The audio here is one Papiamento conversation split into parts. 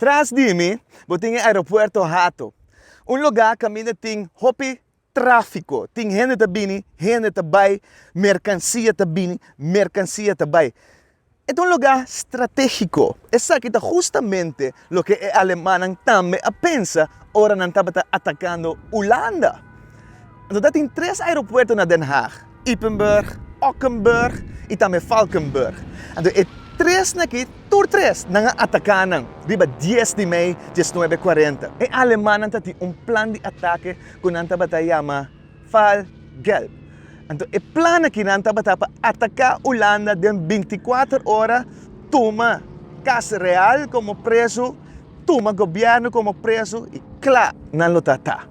Tras di mi bo tin e aeropuerto Hato, un lugá kaminda tin hopi tráfiko, tin hende ta bini, hende ta bai, merkansia ta bini, merkansia ta bai. E ta un lugá stratéshiko. Esaki ta hustamente loke e alemannan tambe a pensa ora nan tabata atakando Hulanda. Anto ta tin tres aeropuerto na Den Haag, Ypenburg, Ockenburg i tambe Valkenburg. Anto e tresnan aki, tur tres, nan a ataká nan, riba dies di mei, diesnuebe kuarenta. E alemannan ta tin un plan di atake ku nan tabata yama, Val d'Gelb. Anto e plan akinan tabata pa ataka Ulanda den binticuater ora, tuma Cas Real como preso, tuma gobierno como preso y cla nan lo ta ta.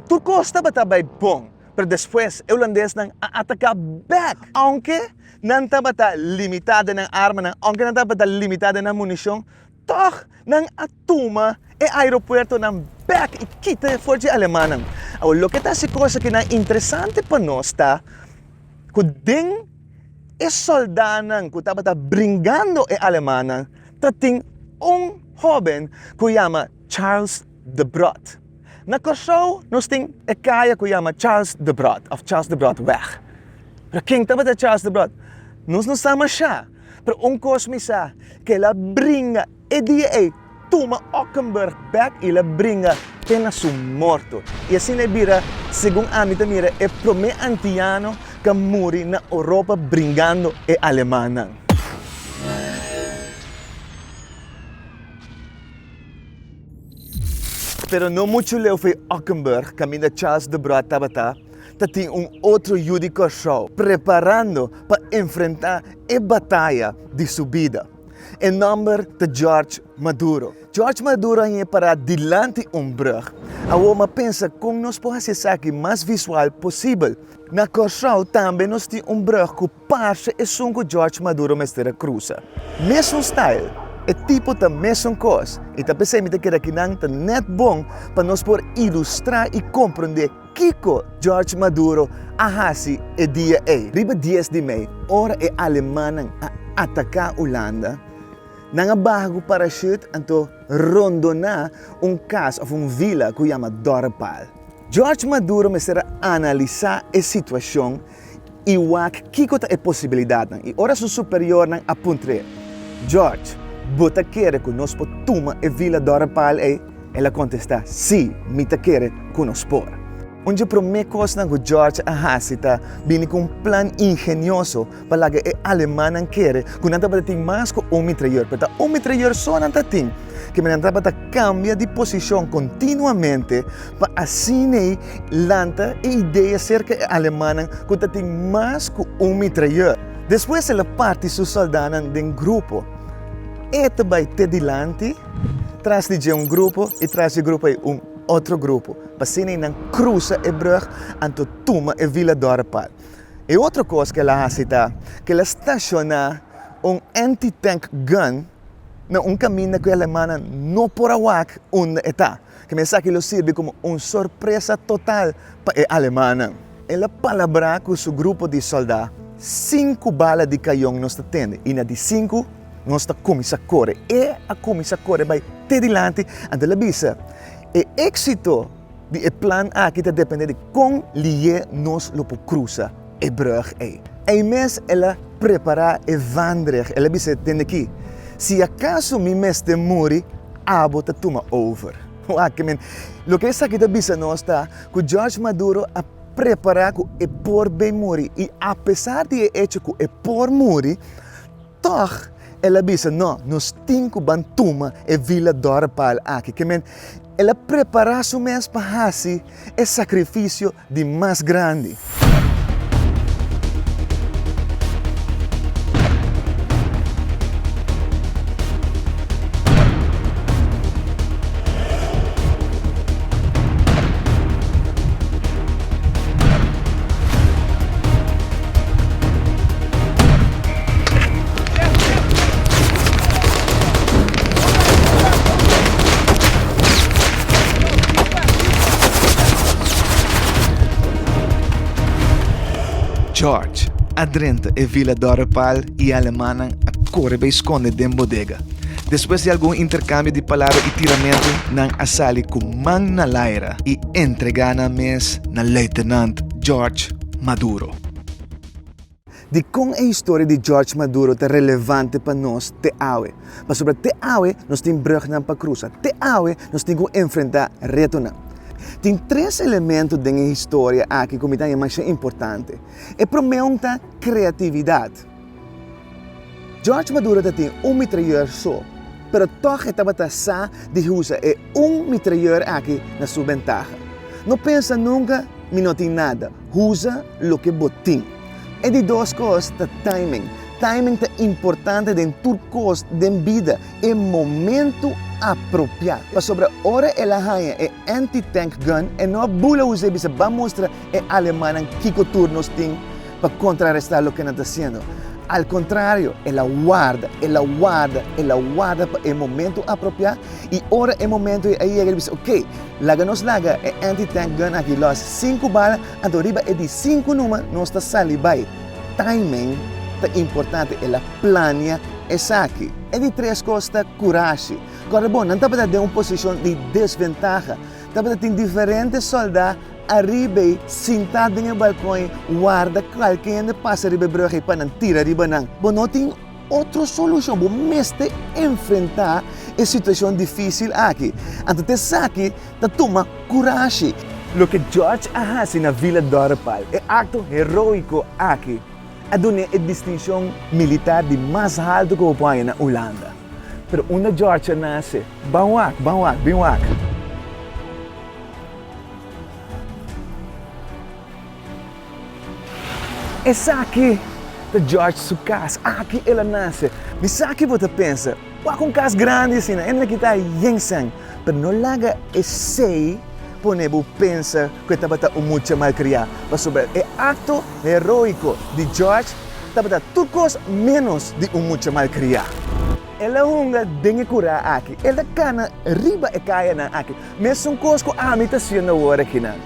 Tur cos tabata bay bon, pero despues e Ulandesnan a ataka bek, aunke nan tabata limita den nan armanan, aunke nan tabata limita den nan municion, tog nan a. tuma e aeropuertonan bèk i kita e for dje alemannan. Awa, loke ta si kos aki nan interesante pa nos ta ku den e sòldánan ku tabata bringando e alemannan ta tin un hóben ku yama Charles de Brood. Na Kòrsou nos tin e kaya ku yama Charles de Brood òf Charles de Broodweg. Pero ken tabata Charles de Brood nos no sa mashá, pero un kos mi sa, ku el a bringa. E dia ei, tuma Ockenburg bek i la bringa te na su morto. I asina e bira, segun ami ta mira, e promé antiano k'a muri na Oropa bringando e alemannan. Pero no muchu leu for Ockenburg, kaminda Charles de Brood tabata, ta tin un otro yu di Kòrsou preparando pa enfrentá e bataya di su bida. E nòmber ta George Maduro. George Maduro a yega pará dilanti un brùg. Awor m'a pensa kon nos por hasi esaki mas visual posibel. Na Kòrsou tambe nos tin un brùg ku parse esun ku George Maduro mester a krusa. Mesun style, e tipo ta mesun kos. I ta p'esei mi ta kere ku nan ta nèt bon pa nos por ilustrá i komprondé. Kiko George Maduro a hasi e dia ei? Riba dies di mei, ora e alemannan a ataká Ulanda, nan a baha ku parashút anto rondoná un kas òf un vila ku yama Dorpal. George Maduro mester a analisá e situashon I wak kiko ta e posibilidatnan i ora su superiornan a puntr'é, George, bo ta kere ku nos por tuma e vila dòrpal ei? El a kontestá, Sí, mi ta kere ku nos por. Un di e promé kosnan ku George a hasi ta bini ku un plan ingenioso pa laga e alemannan kere ku nan tabata tin mas ku un mitrayèr, pero ta un mitrayèr so nan ta tin. Kem'e nan tabata kambia di posishon kontinuamente. pa asín'ei lanta e idea serka e alemannan ku ta tin mas ku un mitrayè. Despues el a parti su sòldánan den grupo, e ta bai te dilanti tras di dje un grupo i tras dje grupo ei un otro grupo, pa asín'ei nan krusa e brùg anto tuma e Vila Dòrepal. E otro kos ku el a hasi ta ku el a stashoná un anti-tank gun na un kaminda ku e alemannan no por a wak unda e ta. ku mensaki lo sirbi komo un sorpresa total pa e alemannan. El a palabrá ku su grupo di sòldá, Sinku bala di kayon nos ta tende, i na di sinku nos ta kuminsá kore. E a kuminsá kore bai te dilanti, anto el a bisa, E éksito di e plan aki ta dependé di kon lihe nos lo por krusa. e brùg ei. Ei mes el a prepará e vandreg, el a bisa, Dende ki, si akaso mi mester muri, abo ta tuma over. Wak men, loke esaki ta bisa nos ta ku George Maduro a prepará ku e por bin muri i apesar di e echo ku e por muri, Tòg, el a bisa, No, nos tin ku ban tuma e vila dòrpal aki. Ke men, el a prepará su mes pa hasi e sakrifisio di mas grandi. George a drenta e vila dòrepal i alemannan a kore bai skonde den bodega. Despues di algun interkambio di palabra i tiramentu, nan a sali ku man na laira i entregá nan mes na Luitenant George. Maduro. Di kon e historia di George Maduro ta relevante pa nos te awe? Pasobra te awe nos tin brugnan pa krusa. Te awe nos tin ku enfrentá retonan. Tin tres elemento den e historia aki ku mi ta haña masha importante. E promé un ta kreatividat. George Maduro ta tin un mitrayeur so, pero tòg e tabata sa di usa e un mitrayeur aki na su bentaha. No pensa nunka mi no tin nada, usa loke bo tin. E di dos kos ta timing. Timing ta importante den tur kos den bida, e momentu apropiá. Pasobra ora el a haña e anti-tank gun e no a bula usa i bisa, Ba mustra e alemannan kiko tur nos tin. pa kontrarestá loke nan ta hasiendo. Al kontrario, el a warda, el a warda, el a warda pa e momentu apropiá, i ora e momentu ei a yega el bisa, Oké, laga nos laga e anti-tank gun aki lòs. Sinku bala, anto riba e di sinku numer nos ta sali bai. Timing ta importante, el a plania esaki. E di tres kos ta kurashi. Kòrda bon, nan tabata den un posishon di desventaha. Tabata tin diferente sòldá. Ariba ei, sintá den e balkon ei, warda kualke hende pasa riba e brùg ei pa nan tira riba nan. Bo no tin otro solushon, bo mester enfrentá e situashon difísil aki. Anto ta esaki ta tuma kurashi. Loke George a hasi na Villa Dorpal, e akto heróiko aki a dun'é e distinshon militar di mas haltu ku bo por haña na Ulanda. Pero unda George a nase? Ban wak, ban wak, bin wak. Esaki ta George su kas. Aki el a nase. Di sa ki bo ta pensa, Wak un kas grandi asina, e no a kita yensan. Pero no laga esei pone bo pensa ku e tabata un mucha malkriá, pasobra e akto heroiko di George tabata tur kos ménos di un mucha malkriá. El a hunga den e kurá aki. El ta kana riba e kayanan aki. Mesun kos ku ami ta siendo awor akinan.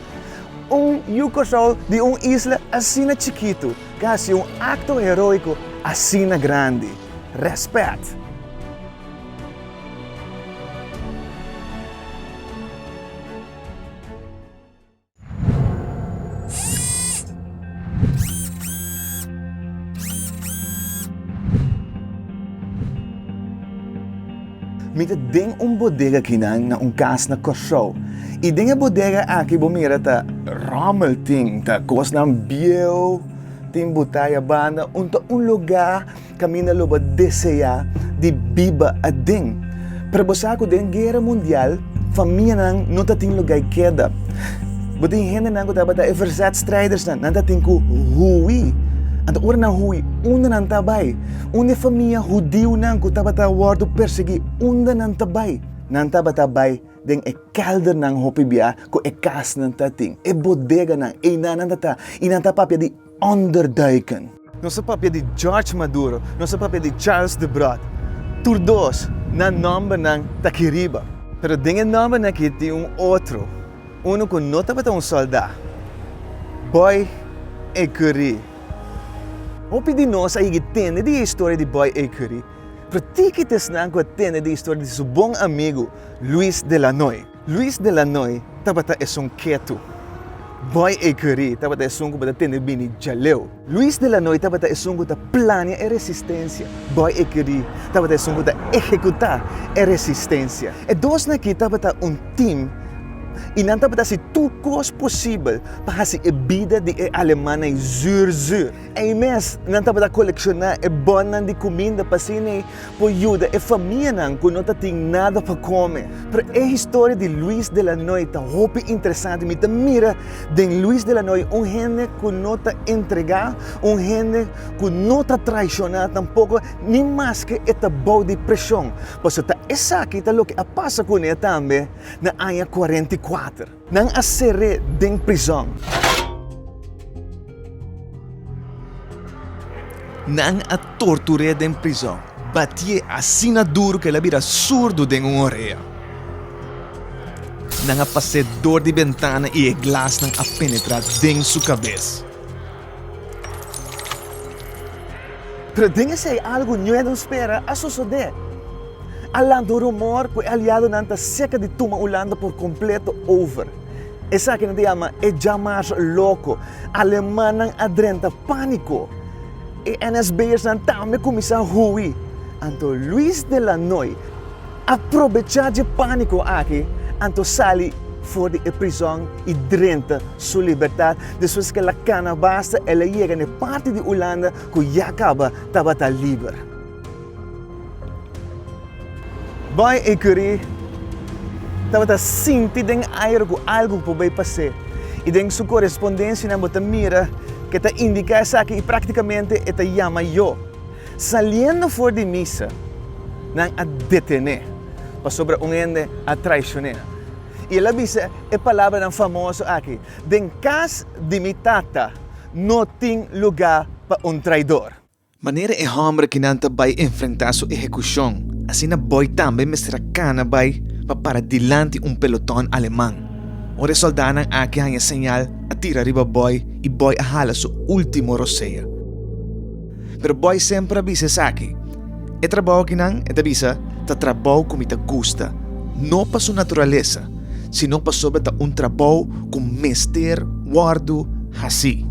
Un Yu Kòrsou di un isla asina chikitu ka hasi un akto heroiko asina grandi. Rèspèt! Mi ta den un bodega kinan na un kas na Kòrsou. I den e bodega aki bo mira ta ròmmel tin, ta kosnan bieu, tin butaya banda, un ta un lugá Kaminda lo bo deseá di biba aden. Pero bo sa ku den guera mundial famianan no ta tin lugay keda. Bo tin hendenan ku tabata e verzetstrijdersnan, nan ta tin ku hui. Anto ora nan hui, unda nan ta bai? Un e famia hudiunan ku tabata wòrdu persiguí, unda nan ta bai? Nan tabata bai den e kèldernan hopi biaha ku e kasnan ta tin, e bodeganan, einan nan ta ta i nan ta papia di onderduiken. Nos a papia di George Maduro, nos a papia di Charles de Brood, tur dos nan nòmbernan ta aki riba. Pero den e nòmbernan aki tin un otro, unu ku no tabata un sòldá, Boy A. Curie. Hopi di nos a yegi tende di e historia di Boy A. Curie, pero tiki ta esnan ku a tende di e historia di su bon amigu Luis de Lanoy. Luis de la Noy tabata esun ketu. Boy A. Currie tabata esun ku bo ta tende bini djaleu. Luis de la Noy tabata esun ku ta plania e resistensia. Boy A. Currie tabata esun ku ta ehekuta e resistensia. E dosnan aki tabata un tim i nan tabata hasi tur kos posibel pa hasi e bida di e alemannan zuur zuur. Ei mes, nan tabata kolekshona e bònnan di kuminda pa asina e por yuda e famianan ku no ta tin nada pa kome. Pero e historia di Luis de la Noy ta hopi interesante. Mi ta mira den Luis de la Noy un hende ku no ta entregá, un hende ku no ta traishoná tampoko, ni maske e ta bou di preshon. Pasobra ta esaki ta loke a pasa ku ne tambe na aña kuarenta i kuater. Nan a ser'é den prizòn. Nan a tortur'é den prizòn. Batié asina duru ku el a bira surdu den un orea. Nan a pas'é dor di bentana i e glasnan a penetrá den su kabes. Pero den esei algu ñue no spera a sosodé. A lanta un rumor ku e aliadonan ta serka di tuma Ulanda por kompleto over. Esaki nan ta yama e Jammers loko. Alemannan a drenta pániko. E NSB'ersnan tambe kuminsá hui. Anto Luis de Lannoy, A probechá dje pániko aki, anto sali for di e prizòn i drenta su libertat. Despues ku el a kana basta, el a yega na e parti di Ulanda ku ya kaba tabata liber. Boy i Curie tabata sinti den aire ku algu por bai pas'é, i den su korespondensianan bo ta mira ku e ta indiká esaki i práktikamente e ta yama yo. Saliendo for di misa, nan a detené, pasobra un hende a traishoné nan. I el a bisa e palabranan famoso aki, Den kas di mi Tata no tin lugá pa un traidor. Manera e hòmber ki nan ta bai enfrentá su ehekushon, asina Boy tambe mester a kana bai pa para dilanti un pelotòn aleman. Ora e sòldánan aki haña señal, a tira riba Boy i Boy a hala su último rosea. Pero boy semper a bisa esaki. E trabou akinan, e ta bisa, ta trabou ku mi ta gusta. No pa su naturalesa, sino pasobra ta un trabou ku mester wòrdu hasi.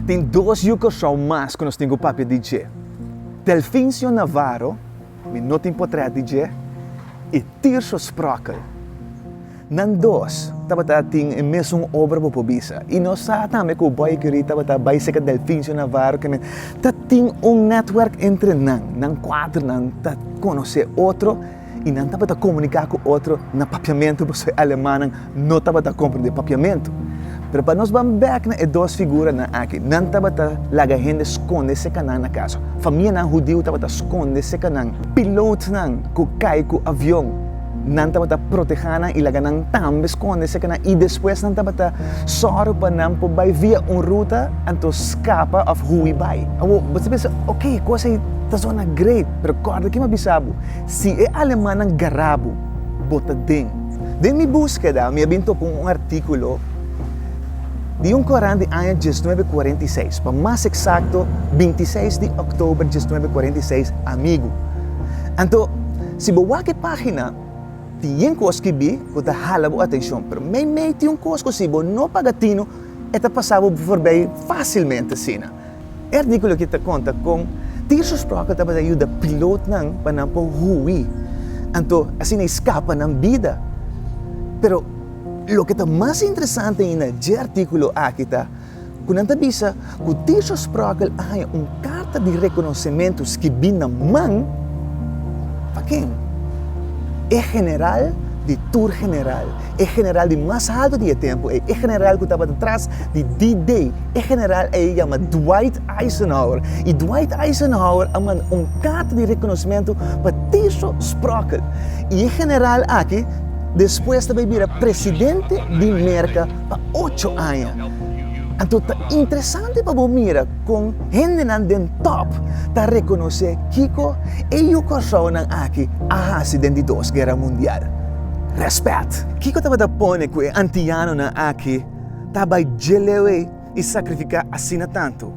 Tin dos yu Kòrsou mas ku nos tin ku papia di dje. Delfincio Navarro. Mi no tin potrèt di dje i Tirso Sprokel. Nan dos tabata tin e mesun obra bo por bisa. I nos sa tambe ku Boikery tabata bai seka Delfincio Navarro ke men ta tin un netwerk entre nan. Nan kuater nan ta konosé otro i nan tabata komuniká ku otro na papiamentu pasobra e alemannan no tabata comprende Papiamentu. Pero pa nos ban bek na e dos figuranan aki, nan tabata laga hende sconde secanan na casa. Famianan hudiu tabata sconde secanan. Pilootnan cu cay cu avion, nan tabata proteha nan y laga nan tambe sconde secanan. Y despues nan tabata zorg pa nan por bay via un ruta anto scapa of hui bay. Awo, bo ta pensa, ok, e cos ey ta zona great. Pero corda kimen a bisa bo, si e alemannan garra bo, bo ta den. Den mi búskeda mi a bin topa un artíkulo di un korant di aña diesnuebe kuarenta i seis, pa mas eksakto binti i seis di òktober diesnuebe kuarenta i seis, Amigu. Anto, si bo wak e página, tin yen kos skibí ku ta hala bo atenshon, pero meimei tin un kos ku si bo no paga tino, e ta pasá bo forbei fásilmente asina. E artíkulo aki ta konta kon Tirso Sprockle tabata yuda pilotnan pa nan por hui, anto asina i skapa nan bida. Pero loke ta mas interesante ainda na dje artíkulo aki ta ku nan ta bisa ku Tirso Sprockle a haña un karta di rekonosementu skibí na man, pa ken? E general di tur general. E general di mas haltu di e tempu ei, e general ku tabata tras di D-Day, e general ei a yama Dwight Eisenhower. I Dwight Eisenhower a manda un karta di rekonosementu pa Tiso Sprockett. I e general aki despues ta bai bira presidente di Merka pa ocho aña. Anto ta interesante pa bo mira kon hendenan den top ta rekonosé kiko e yu Kòrsounan aki a hasi den di Dos Guera Mundial. Respet! Kiko tabata pone ku e antianonan aki ta bai djelewe i sakrifiká asina tantu?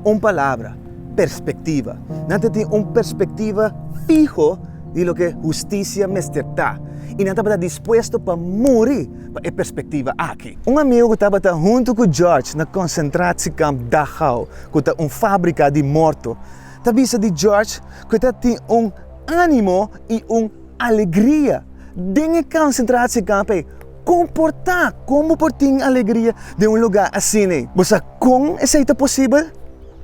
Un palabra, perspektiva. Nan ta tin un perspektiva fiho di loke hustisia mester ta, i nan tabata dispuesto pa muri pa e perspektiva aki. Un amigu ku tabata huntu ku George na konsentrasiekamp Dachau, ku ta un fábrika di morto, ta bisa di George ku e ta tin un ánimo i un Alegria. Den e konsentratie kamp ei, komportá kon bo por tin alegria den un lugá asina. Bo sa kon esei ta posibel?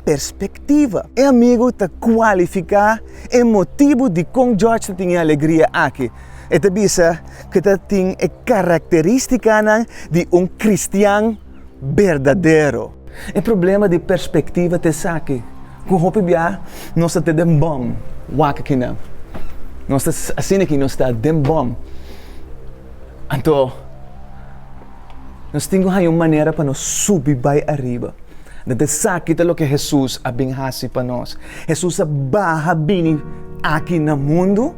Perspektiva. E amigu ta kualifiká e motibu di kon George ta tin e alegria aki. E ta bisa ku e ta tin e karakterístikanan di un kristian. berdadero. E problema di perspektiva ta esaki, ku hopi bia nos ta den bòm wak kinan. Nos ta asina ku nos ta den bòm. Anto nos tin ku haña un manera pa nos subi bai ariba. Dor di esaki ta loke Hesus a bin hasi pa nos. Hesus a baha bini aki na mundu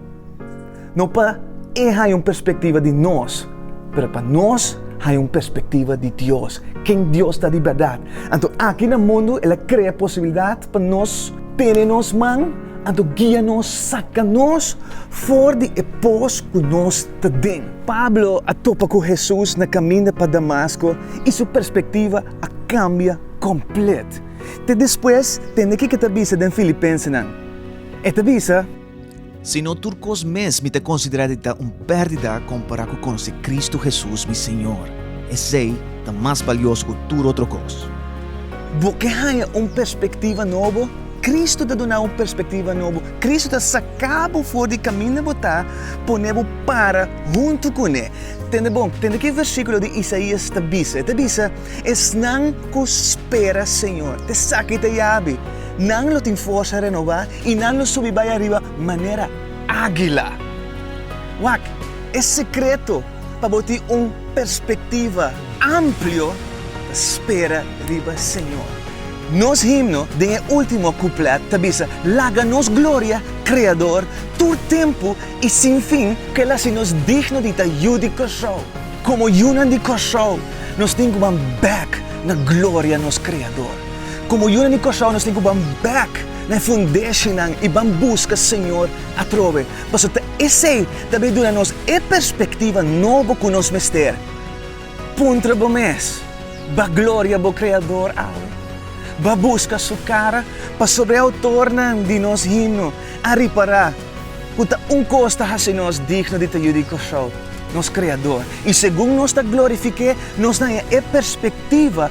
No pa e haya un perspectiva di nos, pero pa nos haya un perspectiva di Dios, ken Dios ta di berdad. Anto aki na mundu el a crea posibilidad pa nos tene nos man, anto guia nos saca nos for di e pos cu nos ta den. Pablo a topa cu Jesus na caminda pa Damasco y su perspectiva a cambia complet. Te despues tende kico ta bisa den Filipensenan. E ta bisa. Sino tur kos mes mi ta konsiderá di ta un pèrdida kompará ku konosé Kristu Hesus, mi Señor. Esei ta mas balioso ku tur otro kos. Bo ke haña un perspektiva nobo? Kristu ta duna un perspektiva nobo. Kristu ta saká bo for di kaminda bo ta, pone bo para huntu ku Ne. Tende bon, tende ki versíkulo di Isaías ta bisa. E ta bisa, Esnan ku spera Señor, t'esaki ta yabi. Nan lo tin forsa renobá i nan lo subi bai ariba manera ágila. Wak e sekreto pa bo tin un perspektiva amplio ta spera riba Señor. Nos himno den e último kuplet ta bisa, Laga nos gloria, Kreador, tur tempu i sin fin. Kel a hasi nos digno di ta yu di Kòrsou. Komo yunan di Kòrsou, nos tin ku ban bèk na gloria nos Kreador. Komo yunan di Kòrsou, nos tin ku ban bèk na e fundeshinan i ban buska Señor atrobe, paso ta esei ta bin duna nos e perspektiva nobo ku nos mester, Puntra bo mes, ba gloria bo Kreador awe, ba buska Su kara, pasobra e outornan di nos himno a ripará ku ta un kos ta hasi nos digno di ta yu di Kòrsou, nos Kreador, i segun nos ta glorifik'é, nos naña e perspektiva